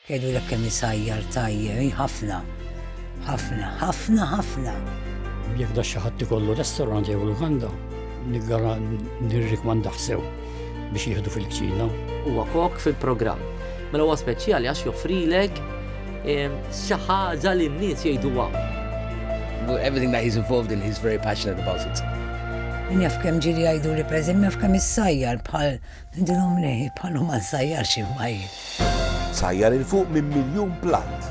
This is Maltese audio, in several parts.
Jgħidulek kemm isajjar tajjeb, hi ħafna. Ħafna, ħafna, ħafna. Jekk da xi ħadd ikollu restorant jew lukanda, niggara nirrikmandah sew biex jieħdu fil-kċina. Huwa kok fil-programm. Mela huwa speċjali għax joffrilek ehm, xi ħaġa li n-nies jgħiduha. Everything that he's involved in, he's very passionate about it. Min jaf kemm ġiri jgħidu li preżim jaf kemm issajjar bħal Ndilhom lejhi bħalhom għaż-żgħajjar xi fbajjel. Sajjar 'il fuq minn miljun platt.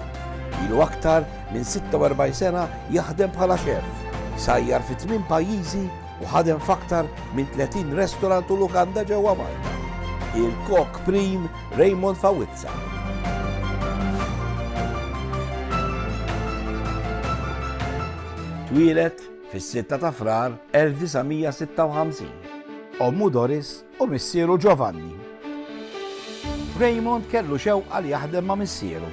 Ilu aktar minn 46 sena jaħdem bħala xeff. Sajjar fi tmien pajjiżi u ħadem f'aktar minn 30 restorant u lukanda ġewwa Malta. Il-kok prim Raymond Fawizza. Twieled fis-sitta ta' Frar 1956. Ommu Doris u missieru Giovanni. Raymond kellu xewqa li jaħdem ma' missieru.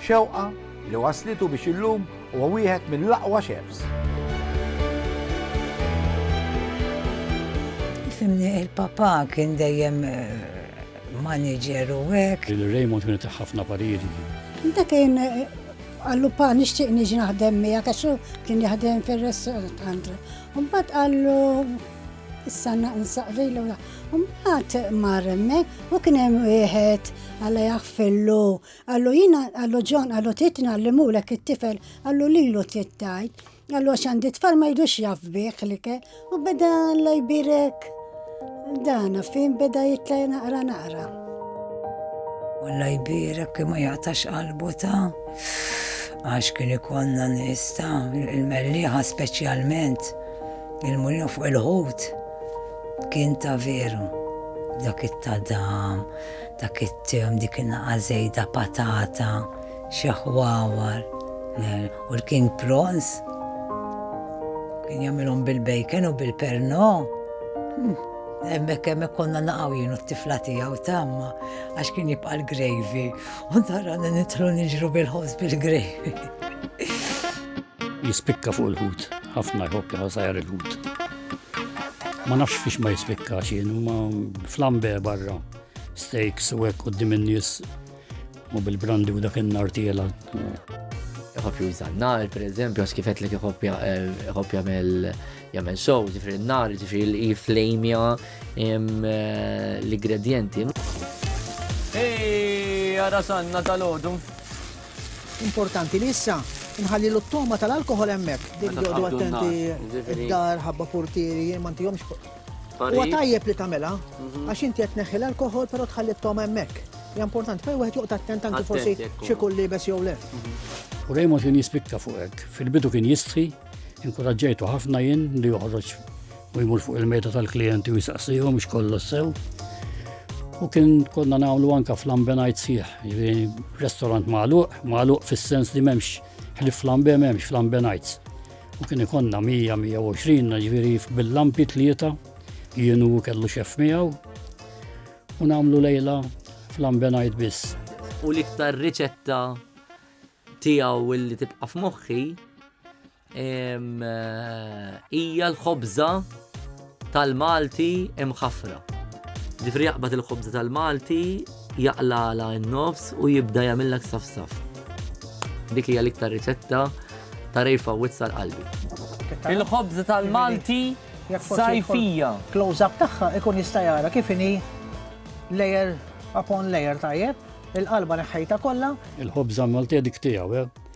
Xewqa li wasslitu biex illum huwa wieħed mill-aqwa chefs. Fimni, il-papà kien dejjem maniġer u hekk. Il-Raymond kien itih ħafna pariri. Dak kien qallu pa nixtieq niġi naħdem miegħek għax hu kien jaħdem fir-restaurant. Mbagħad qallu issa nsaqri l Mbagħad mar hemmhekk u kien hemm wieħed għalla jaħfillu. Qallu jiena qallu John qallu titna li mulek it-tifel qallu lilu tittajt. Għallu għax għandi tfal ma jidux jaf bih li ke, u beda la jbirek dana fin beda jitla naqra naqra. Alla jbirek kima jaqtax qalbu ta' għax kien ikonna nista il-melliħa speċjalment il-mulin fuq il-ħut kien ta' veru dak it-tadam, dak it-tim, dik in-naqa zejda patata, Xaħwawar u l-king prawns. Kien jagħmilhom bil-bacon u bil-perno. Hmm, hemmhekk hemmhekk konna naqgħu jien u t-tifla tiegħu tamma għax kien jibqa' l-gravy u tara nitlu niġru bil-ħobż bil-gravy. Jispikka fuq il-ħut, ħafna jħobb jħosajr il-ħut. Ma nafx fiex ma jispikka xien, ma flambe barra, steaks u hekk qudiem in-nies U bil-brandi u dak in-nar tiela. Iħobb juża n-nar, per eżempju, għax kifet li iħobb eh, jagħmel jagħmel sow, ġifri n-nar, ġifri l-flamja eh, l-ingredienti. Ej, għara sanna tal-ħodu. Importanti li issa nħalli l-toma tal-alkohol emmek. Din jodu attenti id-dar, ħabba portieri, ma ntijomx Huwa tajjeb li tagħmilha mhm. għax inti qed neħħi l-alkoħol però tħalli t-toma hemmhekk. Ja importanti, pej wieħed joqgħod attent anki forsi xi kull libes jew le. Mhm. U Raymond kien jispikka fuq hekk. Fil-bidu kien jistħi, inkuraġġejtu ħafna jien li joħroġ u jmur fuq il-meta tal-klijenti u jisaqsihom biex kollu sew. U kien konna nagħmlu anka flambenajt sieħ, jiġifieri restorant magħluq, magħluq fis-sens li m'hemmx ħlif flambe m'hemmx flambenajts. U kien ikonna 100-120 ġviri bil-lampi tlieta, jienu kellu xef miegħu, u namlu lejla fl-ambenajt biss. U l-iktar riċetta tiegħu illi tibqa' f'moħħi eh, hija l-ħobża tal-Malti imħaffra. Ġifieri jaqbad il-ħobża tal-Malti, jaqlagħla n-nofs u jibda jagħmilha ksaf saf. Dik hija l-iktar riċetta ta' Ray Fawwitt sar qalbi. Il-ħobża tal-Malti sajfija. Close up tagħha ikun jista' jara kif inhi layer upon layer tajjeb, il-qalba neħħejta kollha. Il-ħobża Malti dik tiegħu, eh?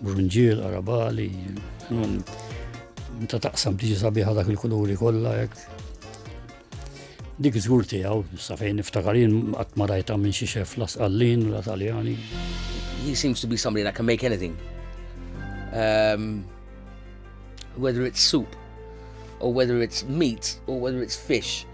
Brunġiel, arabali, ta' taqsam tiġi sabiħa dak il-kuluri kollha hekk. Dik żgur tiegħu, sa fejn niftakarin qatt ma rajta minn xi xef la Sqallin la Taljani. He seems to be somebody that can make anything. Um, whether it's soup or whether it's meat or whether it's fish.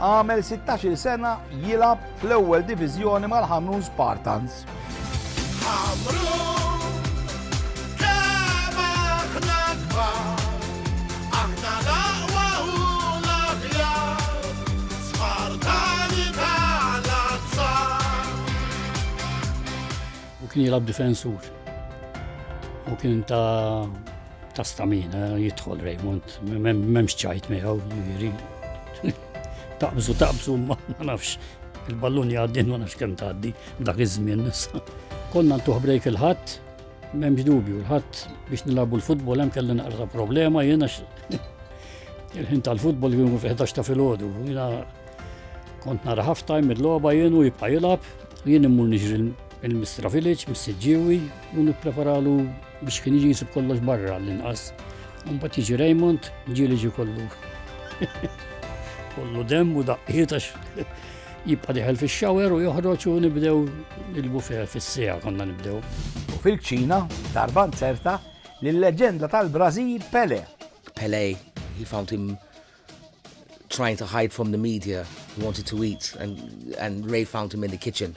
Għamel 16-il sena jilgħab fl-ewwel diviżjoni mal-Ħamrun Spartans. U kien jilgħab difensur. U kien ta' Ta' stamina jidħol Raymond, m'hemmx ċajt miegħu, jiġri. Taqbżu taqbżu ma nafx il-ballun jgħaddin ma nafx kemm tgħaddi dak iż-żmien nissa. Konna ntuħ brejk il-ħadd, m'hemmx dubju, l-ħadd biex nilabu l-futbol hemm kelli naqra problema jiena il-ħin tal-futbol kienu fil-11 ta' filgħodu. Jiena kont nara half time il-logħba jien u jibqa' jilgħab, jien immur niġri Il-Mistra Village mis-Siġġiewi u nippreparalu biex kien jiġi jisib kollox barra l-inqas. Mbagħad jiġi Raymond, ġieli ġi kollu. Kollu dem u daqqiet għax jibqa' diħel fix-xawer u joħroġ u nibdew il-buffet fis-sija konna nibdew. U fil-ċina, darba nzerta, l-leġenda tal-Brażil Pele. Pele, he found him trying to hide from the media. He wanted to eat and, and Ray found him in the kitchen.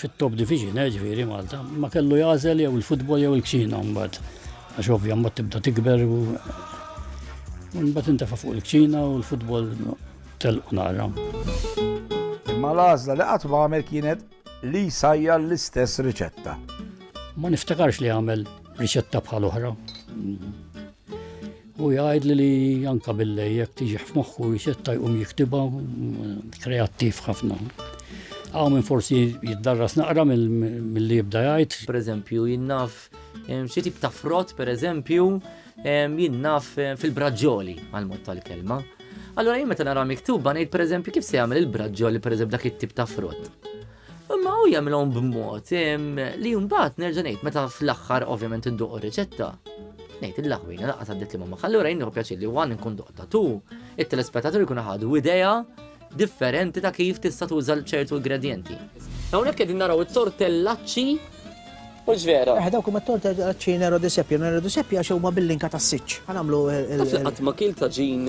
fit-top division, eh, ġifieri Malta, ma kellu jagħżel jew il-futbol jew il-kċina mbagħad. Għax ovvja mbagħad tibda tikber u mbagħad intefa' fuq il-kċina u l-futbol telqu nara. Imma l-għażla li qatt ma għamel kienet li sajja l-istess riċetta. Ma niftakarx li għamel riċetta bħal oħra. Hu jgħidli li anka billej jekk tiġih f'moħħu jsetta jqum jiktibha kreattiv ħafna. Għaw minn forsi jiddarras naqra mill-li jibda jgħid. Per eżempju, jinnaf xi tip ta' frott, per eżempju, jinnaf fil-braġġoli għal-mod tal-kelma. Allora jien meta nara miktuba ngħid per eżempju kif se jagħmel il-braġġoli per eżempju dak it-tip ta' frott. Imma hu jagħmilhom b'mod li mbagħad nerġa' ngħid meta fl-aħħar ovvjament induq riċetta. Ngħid il-laħwina laqgħa għaddiet li ma ħallura jien pjaċir li wan nkun doqta tu, it-telespettatur ikun ħadu idea differenti ta' kif tista' tuża ċertu ingredienti. Hawnhekk qegħdin naraw it-tortellaċċi u ġvera. Eh, dawk huma t-tortellaċċi nero di seppja, nero di seppja għax huma bil-linka tas-siċċ. Ħanamlu il-. Qatt ma kiel ta' ġin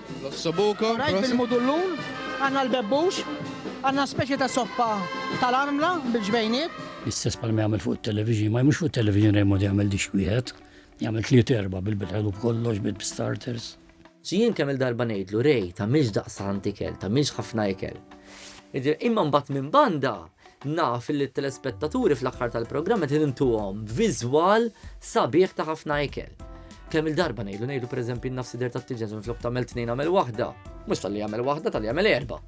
L-ossobuco. Rajt bil-mudullun, għandna l-bebbux, għandna speċi ta' soppa tal-armla bil-ġbejniet. L-istess bħal ma jagħmel fuq it-television, ma mhux fuq it-television Raymond jagħmel dish wieħed, jagħmel tliet erba' bil-bilħelu b'kollox, bis-starters. Xi jien kemm-il darba ngħidlu, Ray, tagħmilx daqstant ikel, tagħmilx ħafna ikel. Imma mbagħad minn banda, Naf li t-telespettaturi fl-aħħar tal-programm qed intuhom viżwal sabiħ ta' ħafna ikel. Kemm-il darba ngħidu, ngħidu pereżempju n-nafs idher tat-tiġen minflok tagħmel tnejn agħmel waħda. Mhux talli jagħmel waħda, talli jagħmel erba'.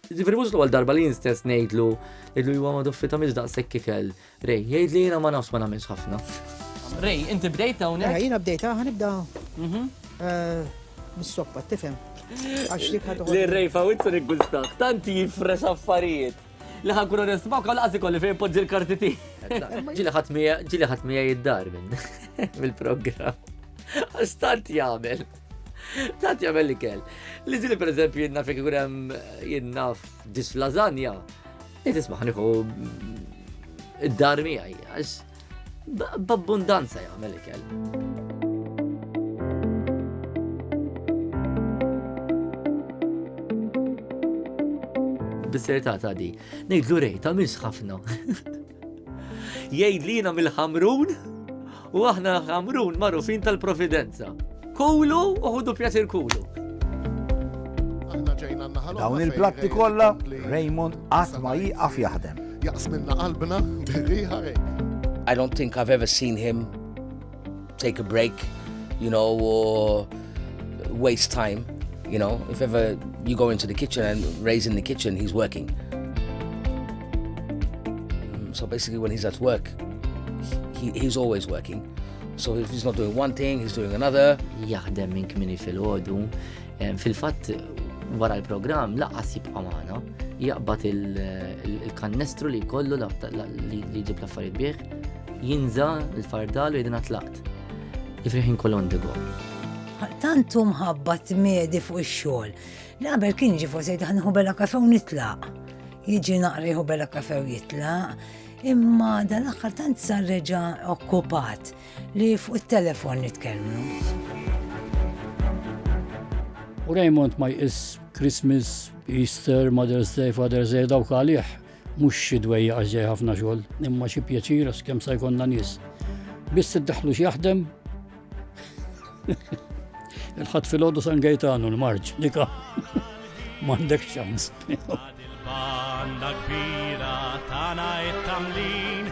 Ġifieri mhux l-ewwel darba li jien stess ngħidlu, ngħidlu iwa ma' Doffi tagħmilx daqshekk ikel, Ray, jgħid li jiena ma nafx ma nagħmilx ħafna. Ray, inti bdejt hawnhekk? Mela, jiena bdejt hawn nibda mhm. eh, mis-soppa, tifhem. Għax dik ħadu. Li Ray fawitza nikgustaħ, tanti jifres affarijiet. Li ħankun onest ma' kolla għazi kolli fejn poġġi l-karti ti. Ġili ħatmija, ġili ħatmija jiddar minn mill-program. Għastant jgħamil. Tant jgħamil li kell. Li zili per eżempju jinnaf jgħurem jinnaf dis lasagna Qed isma' ħaniħu id-dar miegħi għax b'abbundanza jagħmel ikel. bis-serta ta' di. Nejdlu rej, ta' mins ħafna. Jgħid li jina mill-ħamrun U aħna għamrun marufin tal-providenza. Kulu u ħudu pjaċir kulu. Dawn il-platti kollha Raymond qatt ma jieqaf jaħdem. Jaqs minna qalbna birriħa I don't think I've ever seen him take a break, you know, or waste time, you know, if ever you go into the kitchen and Ray's in the kitchen, he's working. Mm, so basically when he's at work, he, he's always working. So if he's not doing one thing, he's doing another. Jaħdem minn kmini fil-ħodu. Fil-fatt, wara l-program, laqqas jibqa' magħna, jaqbad il-kannestru li kollu li jġib l-affarijiet bih, jinża l-fardal u jidina tlaqt. Jifriħ inkol ondigo. Tantu mħabba t-medi fuq ix-xogħol. Li qabel kien ġi forsi daħniħu bella kafe u nitlaq. Jiġi naqriħu bella kafe u jitlaq. Imma dan aħħar tant sar reġa' okkupat li fuq it-telefon nitkellmu. U Raymond ma jqis Christmas, Easter, Mother's Day, Father's Day dawk għalih Mhux xi dwejja għax ġej ħafna xogħol, imma xi pjaċir għax kemm sa jkollna nies. Biss iddaħħlu x'jaħdem. Il-ħadd fil-ħodu San Gejtanu l-marġ, dika. M'għandek xans. Banda kbira tana it-tamlin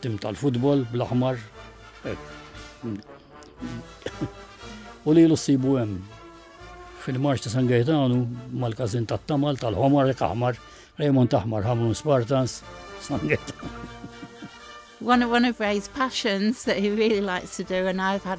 Tim tal-futbol bl-aħmar. U li l-sibu hemm fil-marċ ta' San Gaetanu mal-kazin ta' tamal tal-ħomar ek aħmar, Raymond Aħmar, Hamrun Spartans, San Gaetanu. One of, one of Ray's passions that he really likes to do, and I've had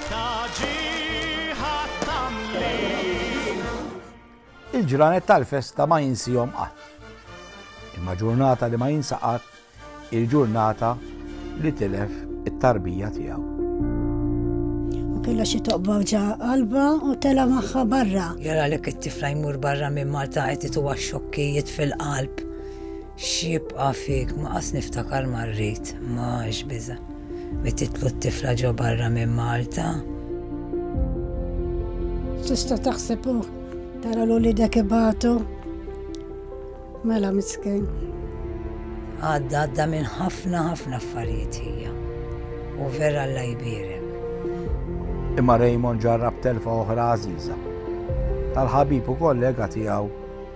Il-ġranet tal-festa ma jinsihom qatt. Imma ġurnata li ma jinsa qatt il-ġurnata li tilef it-tarbija tiegħu. U kellha xi toqba ġa qalba u tela' magħha barra. Jara lek it-tifla jmur barra minn Malta qed ituha xokkijiet fil-qalb. X'jibqa' fik? Ma qas niftakar ma rrid, ma x'biża', li titlu t-tifla ġo barra minn Malta. Tista' taħseb u tara l uliedek ibatu. Mela miskin. Għadda għadda minn ħafna ħafna affarijiet hija. U vera Alla jbierek. Imma Raymond ġarrab telfa oħra għażiża tal-ħabib u kollega tiegħu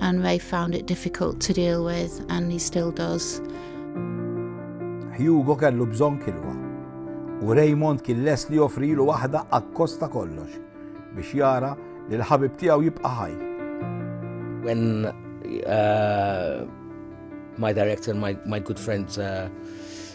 and Ray found it difficult to deal with and he still does. Hugo kellu bżonn kilwa u Raymond kien les li joffrilu waħda akkosta kollox biex jara li l-ħabib tiegħu jibqa' ħaj. When uh, my director, my, my good friend uh,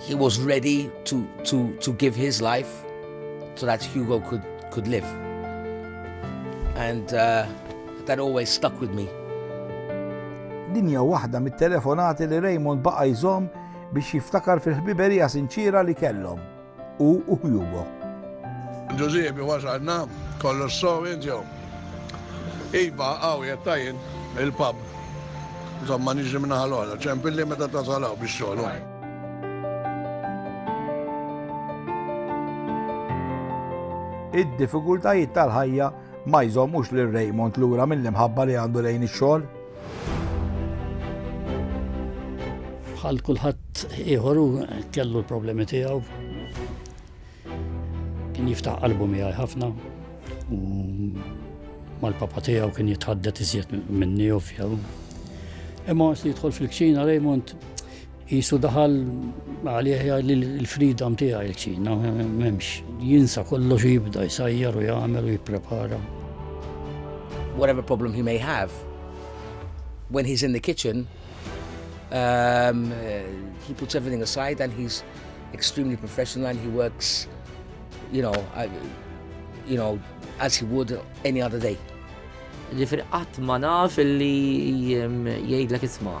He was ready to, to, to give his life so that Hugo could, could live. And uh, that always stuck with me. Dinja waħda mit-telefonati li Raymond baqa' jżomm biex jiftakar fil-ħbiberija sinċira li kellhom. u Hugo. Ġużiepi wasalna, kollox sew int jew? Iva, hawn qiegħed ta' jien, il-pub. Insomma niġi minn naħa l-oħra, ċempilli meta tasal hawn biex xogħol. Id-diffikultajiet tal-ħajja ma jżommux lil Raymond lura mill-imħabba li għandu lejn ix-xogħol. Bħal kulħadd ieħor kellu l-problemi tiegħu. Kien jiftaħ qalbu miegħi ħafna u mal-papa tiegħu kien jitħaddet iżjed minni ovvjaw. Imma għas li jidħol fil-kċina Raymond Qisu daħal għalih jgħid l-freedom tiegħi ċina m'hemmx. Jinsa kollox jibda jsajjar u jagħmel u jipprepara. Whatever problem he may have, when he's in the kitchen, um, he puts everything aside and he's extremely professional and he works, you know, uh, you know, as he would any other day. Ġifir qatt ma naf li jgħidlek isma'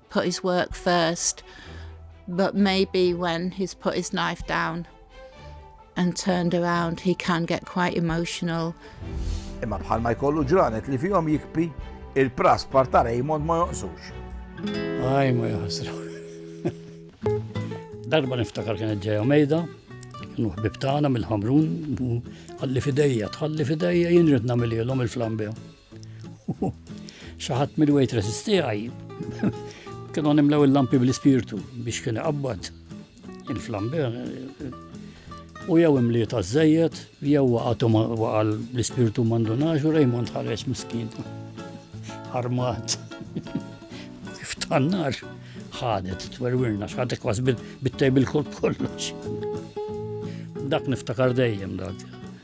put his work first, but maybe when he's put his knife down and turned around, he can get quite emotional. Imma bħalma jkollu ġranet li fihom jikpi, il-pras parta Raymond ma jonqsux. Aj, ma jħasra. Darba niftakar kienet ġeja mejda, kienu ħbib tagħna mill-ħamrun, għalli fidejja, tħalli fidejja jien rid nagħmililhom il-flambew. Xaħat mill-waitress tiegħi kienu nimlew il-lampi bl-ispirtu biex kien iqabbad il-flamber u jew imli ta' zzejet, jew waqatu waqal l-ispirtu mandunaġ u Raymond ħares miskin. Armat. Kif tannar ħadet, twerwirna, xħadet kwas bit-tejbil kollox. Dak niftakar dejjem dak.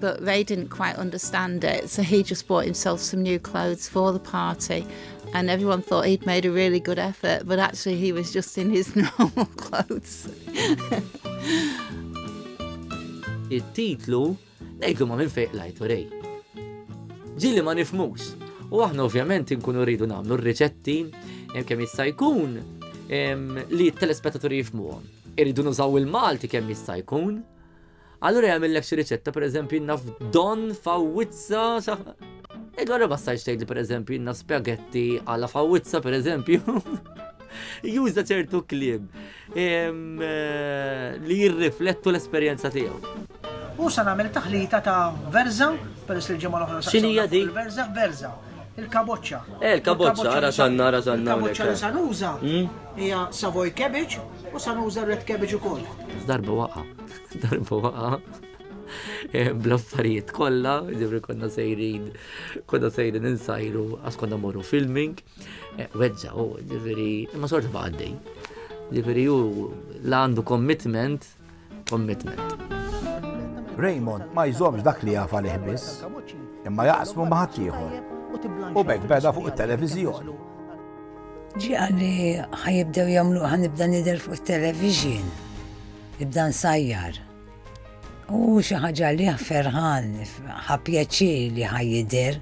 But they didn't quite understand it, so he just bought himself some new clothes for the party. And everyone thought he'd made a really good effort, but actually he was just in his normal clothes. It-titlu ngħidlu ma minn fejq lajtu rej. Ġili ma nifmux. U aħna ovvjament inkunu rridu nagħmlu r-riċetti kemm jista' jkun li t-telespettaturi jifmuhom. Irridu nużaw il-Malti kemm jista' jkun Allura jagħmillek xi riċetta, pereżempju jinnaf don fawwizza sa. Ed wara ma stajx tgħid li pereżempju jinnaf naf spaghetti għala fawwizza pereżempju. Juża ċertu kliem eh, li jirriflettu l-esperjenza tiegħu. U sa nagħmel taħlita ta' verza, peress li ġimgħa l-oħra. X'inhija di? Verza, verza. Il-kaboċċa. Eh, il-kaboċċa, ara sanna, ara sanna. Il-kaboċċa li sanuża hmm? hija savoy cabbage u sanuża red cabbage ukoll. Darba waqa'. darba waqa eh, bl-affarijiet kollha, ġifri konna sejrin, konna sejrin insajru, għas konna morru filming, eh, weġġa, u oh, ġifri, ma sorta baqaddej. Ġifri, u la għandu commitment, commitment. Raymond ma jżomx dak li jafa liħbis, imma jaqsmu maħat ieħor. U bekk beda fuq it-televiżjoni. Ġi għalli ħajibdew jamlu ħanibda nidel fuq il-television. Ibda nsajjar. Hu xi ħaġa li ferħan, ħa pjaċir li ħa jidher.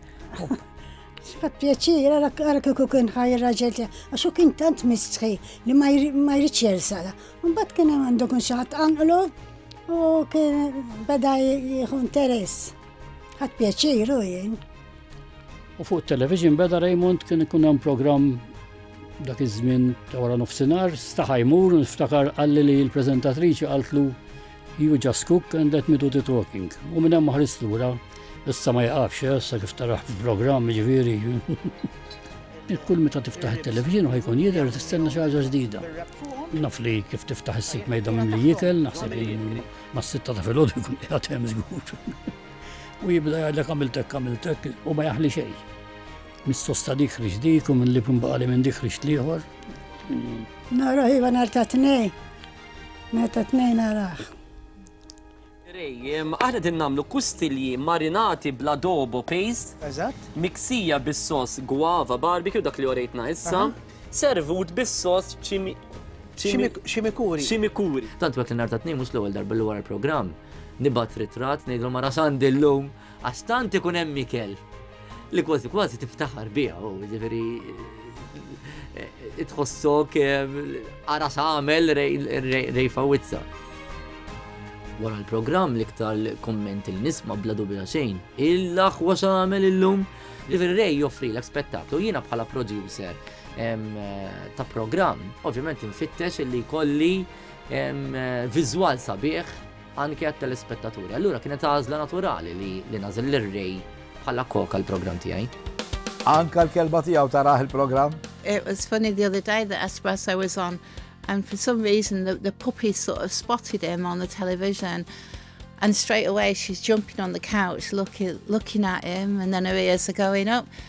Ħa pjaċir, għara kieku kien ħaj raġel tiegħek, għax hu kien tant mistħi li ma jridx jersala. Mbagħad kien hemm għandu kun xi ħadd anqlu u kien beda jieħu interess. Ħadd pjaċir u jien. U fuq television beda Raymond kien ikun hemm programm Dak iż-żmien ta' wara nofsinhar staħa jmur u niftakar qalli li l-preżentatriċi qaltlu You just cook and let me do the talking. U minn hemm ma ħarist lura, issa ma jaqafx, eh, sa kif taraħ fil-programm ġifieri. Kull meta tiftaħ it-televizjon u ħajkun jidher tistenna xi ħaġa ġdida. Naf li kif tiftaħ is-sik mejda minn li jikel, naħseb li mas-sitta ta' filgħodu jkun qiegħed hemm żgur. U jibda jgħidlek għamiltek għamiltek u ma jaħli xejn. Mis-sos ta' dik ħriġt dik u mill-lieb inbaqali minn dik ħriġt l-ieħor. Naraħ iva nhar ta' tnejn. Nhar ta' tnejn naraħ. Rejjem, aħna din nagħmlu kustilji marinati bl-adobo paste. Eżatt. Miksija bis-sos guava barbecue dak li orejtna issa. Servut bis-sos ċimi. Ċimikuri. Ċimikuri. Tant wek li nhar ta' tnejn mhux l-ewwel darba li wara l-programm. Nibgħat ritrat ngħidlu mara Sandi llum. Għax tant ikun hemm ikel li kważi kważi tiftaħar biha u ġifieri itħossok ara għamel rejfa wizza. Wara l-programm l-iktar komment il nisma bla dubja xejn. Il-aħwa xamel illum. Ġifieri rej joffri l spettaklu jiena bħala producer ta' programm, ovvjament infittex li kolli viżwal sabiħ anke għat-telespettaturi. Allura kienet għażla naturali li li nażel lir-Ray bħala kok għall-programm tiegħi. Anka l-kelba tiegħu taraħ il-programm? It was funny the other day that Espresso was on and for some reason the, the puppy sort of spotted him on the television and straight away she's jumping on the couch looking looking at him and then her ears are going up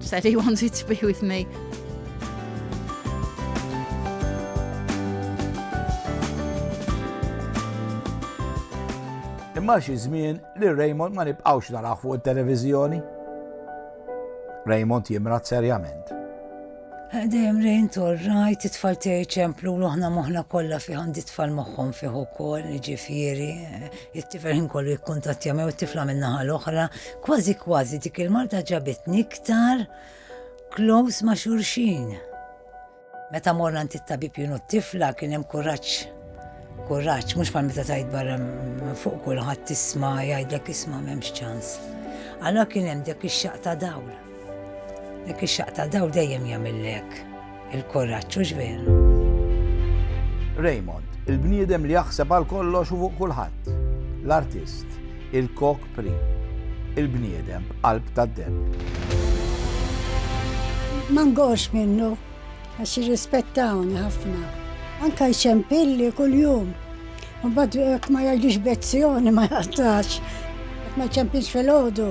Said he wanted to be with me. Imma xi żmien li Raymond ma nibqgħux naraħ fuq it-televiżjoni. Raymond jimrat serjament. Għadem rejn torrajt it-tfal tiegħi ċemplu l-oħna moħna kollha fi għandi tfal moħħhom fih ukoll, ġifieri, It-tifel ħin kollu jikkuntattja mew it-tifla min-naħa l-oħra, kważi kważi dik il-marta ġabitni iktar close ma' xurxin. Meta morna nti t-tabib junu t-tifla kien hemm kuraġġ. Kuraġġ, mhux bħal meta tajt barra fuq kulħadd tisma' jgħidlek isma' m'hemmx ċans. Allora kien hemm dak ix-xaq ta' dawl. Dak ix-xaq ta' dawl dejjem jagħmillek. Il-kuraġġ hux veru. Raymond, il-bniedem li jaħseb għal kollox u fuq kulħadd. L-artist, il-kok pri. Il-bniedem b'qalb tad-deb. Ma ngorx minnu, għax jirrispettawni ħafna. Anka jxempilli kuljum. U bad ma jgħidix bezzjoni ma jgħattax. Ma jċempilx fil-ħodu.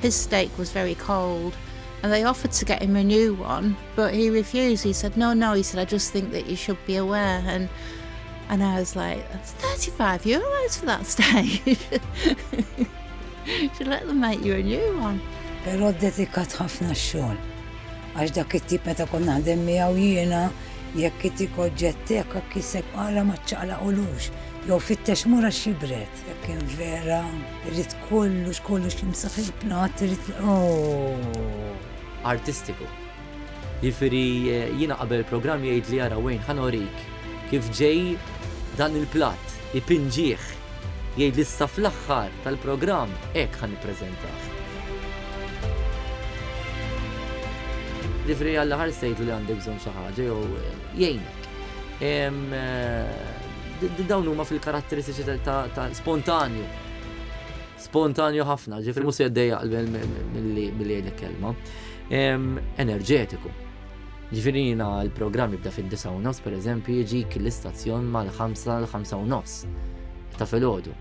His steak was very cold and they offered to get him a new one but he refused he said no no he said I just think that you should be aware and and I was like that's 35 euros for that steak should let them make you a new one Pero dedikat ħafna xogħol għax dak it-tip meta kon naħdem miegħu jiena jekk it-tip oġġettek kiseb għala ma ċċaqlaqulux jew fittex mura xibret. Jekk kien vera, irrid kollox kollox jimsaħ il-plat, irrid oh. artistiku. Jifieri eh, jiena qabel programm jgħid li jara wejn ħanorik kif ġej dan il-plat, ipinġieħ, jgħid li issa fl-aħħar tal-programm hekk ħan nippreżentah. Jifieri għall-aħħar sejtu li għandek bżonn xi ħaġa jew eh, jgħinek. Dawn huma fil-karatteristiċi ta' spontanju. Spontanju ħafna, ġifri musu jaddejja mill-li jgħidlek kelma. Enerġetiku. Ġifri jina l-programm jibda fil-9 u nofs, per eżempju, jġik l-istazzjon mal-5 l-5 u nofs ta' fil-ħodu.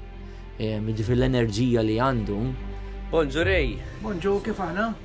Ġifri l-enerġija li għandu. Bonġurej! Bonġu, kif aħna?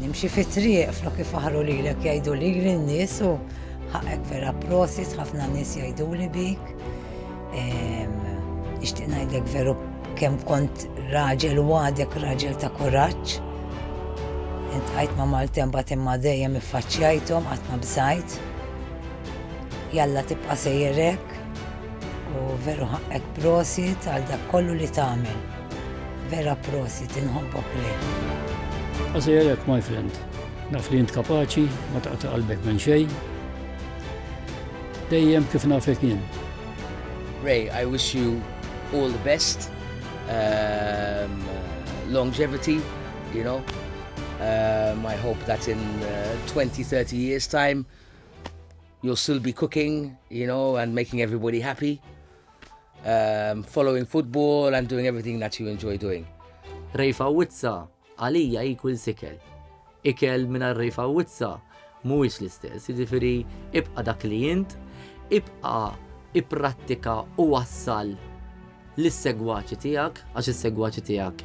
Nimxi fit-triq flok ifaħru lilek jgħidu lili n-nies u ħaqek vera prosit ħafna nies jgħiduli bik. Nixtieq ngħidlek veru kemm kont raġel u għadek raġel ta' kuraġġ. Int ħajt ma' Maltem bat imma dejjem iffaċċjajthom qatt ma bżajt. Jalla tibqa' sejjerek u veru ħaqqek prosit għal dak kollu li tagħmel. Vera prosit, inħobbok li. Għazajelek, my friend. Naf li jint kapaċi, ma taqta qalbek minn xej. Dejjem kif nafek jien. Ray, I wish you all the best. Um, longevity, you know. Um, I hope that in uh, 20, 30 years time, you'll still be cooking, you know, and making everybody happy. um, following football and doing everything that you enjoy doing. Rejfa witza, għalija jikul sikel. Ikel minna rejfa witza, mhuwiex l-istess, jiġifieri ibqa' dak li int, ibqa' ipprattika u wassal l-segwaċi tiegħek, għax is-segwaċi tiegħek